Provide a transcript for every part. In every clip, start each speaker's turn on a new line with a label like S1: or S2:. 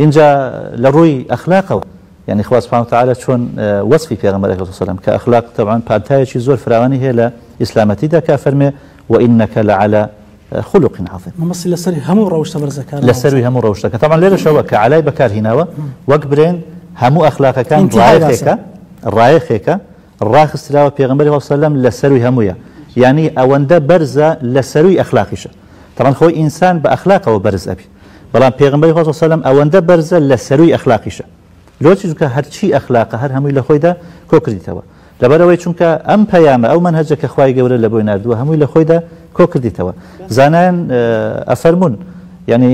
S1: ئینجا لە ڕووی ئەخلاقەوە یانی خوا سبحانە وتعالی چۆن وەسفی پێغەمبەر ئەکرد سەلەم کە ئەخلاق تەبعەن پانتایەکی زۆر فراوانی هەیە لە ئیسلامەتیدا کە فەرمێ وئینەکە لەعەلا خلق عظیم مەبەستی لەسەر هەموو
S2: ڕەوشتە بەرزەکە لەسەروی هەموو ڕەوشتەکە
S1: تەبعەن لێرەشەوە کە عەلای بەکارهیناوە وەک برێن هەموو ئەخلاقەکان ڕایەخێکە ڕایەخێکە ڕاخستراوە پێغەمبەری خوا سەلەم لە سەرووی هەموویە یانی ئەوەندە بەرزە لە سەرووی ئەخلاقیشە تەبعەن خۆی ئینسان بە ئەخلاقەوە بەرز ئەبی بەڵام پێغەمبەری خوا سەلەم ئەوەندە بەرزە لە سەرووی ئەخلاقیشە لۆچی چونکە هەرچی ئەخلاقە هەر هەمووی لە خۆیدا کۆکردیتەوە لەبەرەوەی چونکە ئەم پەیامە ئەو منهەجە کە خوای گەورە لە بۆی نردووە هەمووی لە خۆیدا کۆکردیتەوە زانایان ئەفەرمونون یعنی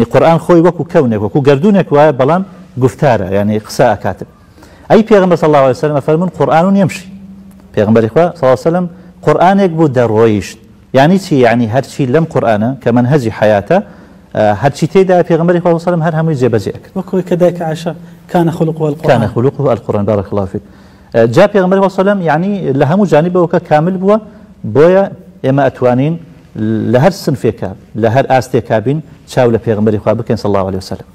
S1: ی قورئان خۆی وەکو کەونێک وەکو گەردوونێک وایە بەڵام گوفتارە یانی قسە ئەکاتن ئەی پێغمبەر صلی اللە علیە وسلم ئەفەرمون قورئان یمشی پێغمبەری خوا صلی اللە وسلم قورئانێک بوو دەڕۆیشت یعنی چی یعنی هەرچی لەم قورآانە کە من هەزی حیاتە هەرچی تێدا پێغمبەری خوا وسلم هەر هەمووی جێبەجێ کرد وەکۆی کە دایک
S2: عشە کانە خلق کانە خلق و القرآن
S1: بارك الله فيك جا پێغمبەر وسلم یعنی لە هەموو جانبەوە کە کامل بووە بۆیە ئێمە ئەتوانین لە هەر سنفێکا لە هەر ئاستێکا بین چاو لە پێغەمبەری خوا بکەین صلی اللە علیە وسلم.